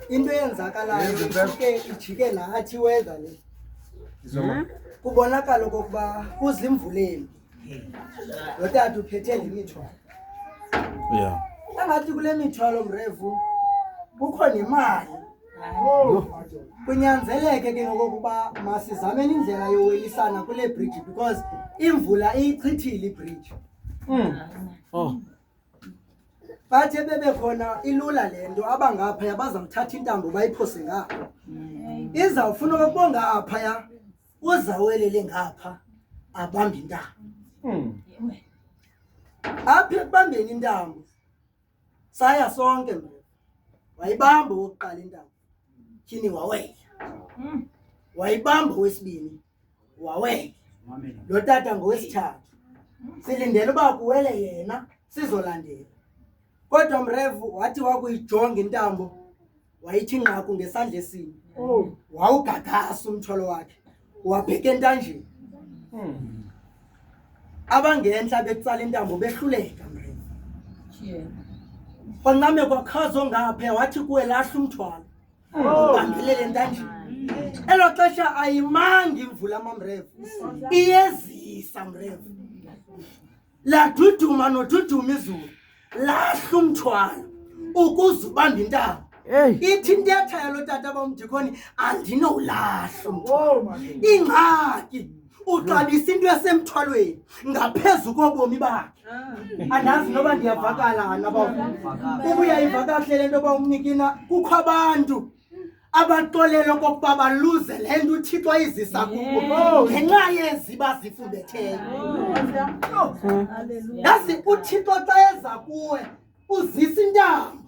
into eyenzakalayo ijike ijike nathi weather le kubonakala okokuba kuzimvuleni lo tata uphethe le mithwalo yeah angathi kule mithwalo mrevu kukho nemali kunyanzeleke ke ngokokuba masizameni indlela yowelisana kule bridge because imvula iyichithile ibridge mm. oh. bathe bebe khona ilula le nto abangaphaya bazamthatha intambo bayiphose ngapha izawufuna okubonga aphaya uzawelele ngapha abambe intambo hmm. apha ekubambeni intambo saya sonke mna wayibamba okokuqala intambo tyhini waweya hmm. wayibamba owesibini waweke lo tata ngowesithathu silindele uba kuwele yena sizolandela kodwa mrevu wathi wakuyijonga intambo wayithi nqaku ngesandla esinye oh. wawugagasa umtholo wakhe wabheka entanjeni hmm. abangentla betsala intambo behluleka mrevu kwancame kwakhazo ngaphe wathi kuwe lahla umthwalo Ubambelele ntanjeni. Elo xesha ayimangi imvula mamrevu. Iyezisa mrevu. Laduduma noduduma izulu. Lahla umthwalo ukuze ubambe intaba. Hey. Ithi intetha yalo tata bamdikhoni andinowulahla umthwalo. Ingxaki. uqalisa into esemthwalweni ngaphezu kobomi bakhe ah. andazi noba ndiyavakala naba ubuyayiva kahle le nto yoba umnikina kukho abantu abaxolele okokuba baluze le nto uthixo ayizisa kubo oh. ngenxa yezi bazifundetheyo oh. yazi uthixo xa eza kuwe uzisa intambo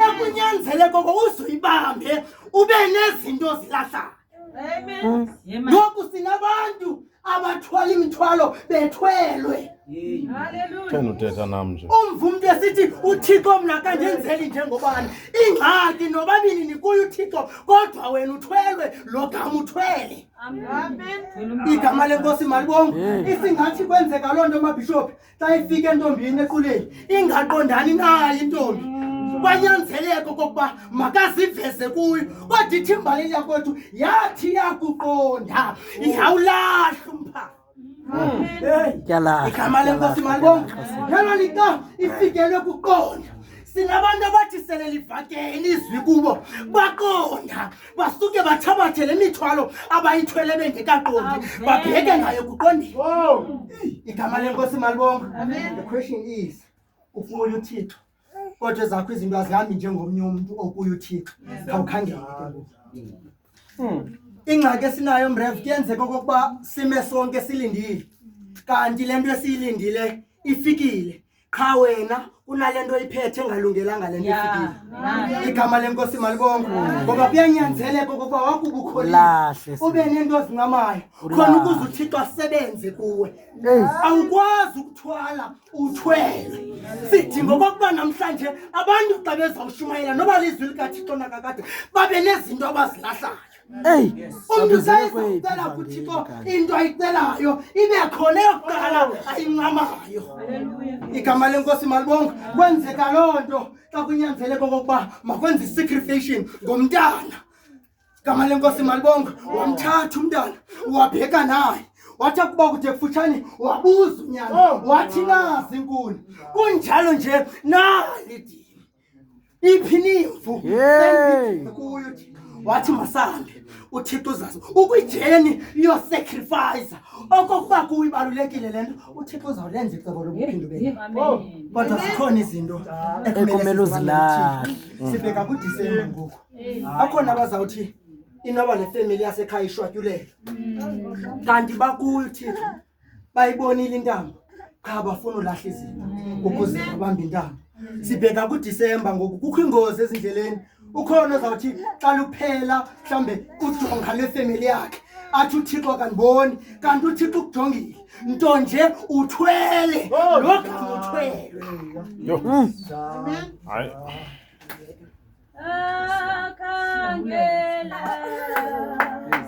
ekunyanzele koko uzoyibambe ube nezinto zilahlana ngoku sinabantu abathwala imithwalo bethwelwe thena uthetha nam nje umva umntu esithi uthixo mna kandenzeli njengobani ingxaki nobabini nikuye uthixo kodwa wena uthwelwe lo gama uthwele igama lenkosi malibongo isingathi kwenzeka loo nto mabhishophi xa ifika entombini equleni ingaqondani nayo intombi kwanyanzeleko kokuba makaziveze kuyo kodwa ithi imbali yakwethu yathi yakuqonda ihawulahle umpha igama lenkosi malibonga ngelo lika ifikelwe kuqonda sinabantu abathi sele livakele izwi kubo baqonda basuke bathabathe le mithwalo abayithwele bengekaqondi babheke ngayo kuqondile igama lenkosi malibonga the question is ukuye uthixo kodwa ezakho izinto azihambi njengomnye umntu okuye uthixo khawukhangele hmm. ingxaki esinayo mrev kuyenzeka okokuba sime sonke silindile kanti le nto esiyilindile ifikile qha wena kunale nto iphethe engalungelanga le nto ifikile igama lenkosi malibongo ngoba kuyanyanzeleka okokuba wakubukholile ube nento ozincamayo khona ukuze uthixo asebenze kuwe awukwazi ukuthwala uthwele sidinga okokuba namhlanje abantu xa bezawushumayela noba lizwi likathixo nakakade babe nezinto abazilahlayo Ey, umntu sayizawucela kuthi ko into ayicelayo ibe khona eyokuqala ayincamayo igama lenkosi malibonga kwenzeka loo nto xa kunyanzeleka okokuba makwenza isacrification ngomntana igama lenkosi malibonga wamthatha umntana wabheka naye wathi akuba kude kufutshane wabuza unyana oh, wathi nazi inkuni kunjalo nje nalidi iphinivu kuyo wathi masambe uthixo uzazi ukwijeni iyosacrifice okokuba kuwo ibalulekile le nto uthixo uzawulenza icebo lokuphindubelkodwa zikhona izinto ekumele uzilahle sibheka kudisemba ngoku akhona abazawuthi inoba nefemeli yasekhaya ishwatyulela kanti bakuyo uthixo bayibonile intambo qha bafuna ulahla izinto ukuze babambe intambo sibheka kudisemba ngoku kukho ingozi ezindleleni ukhona ozawuthi xa luphela mhlawumbe ujonga lwefemeli yakhe athi uthixo kandiboni kanti uthixo ukujongile nto nje uthwele oh, lo gama uthwelwe hmm. hayi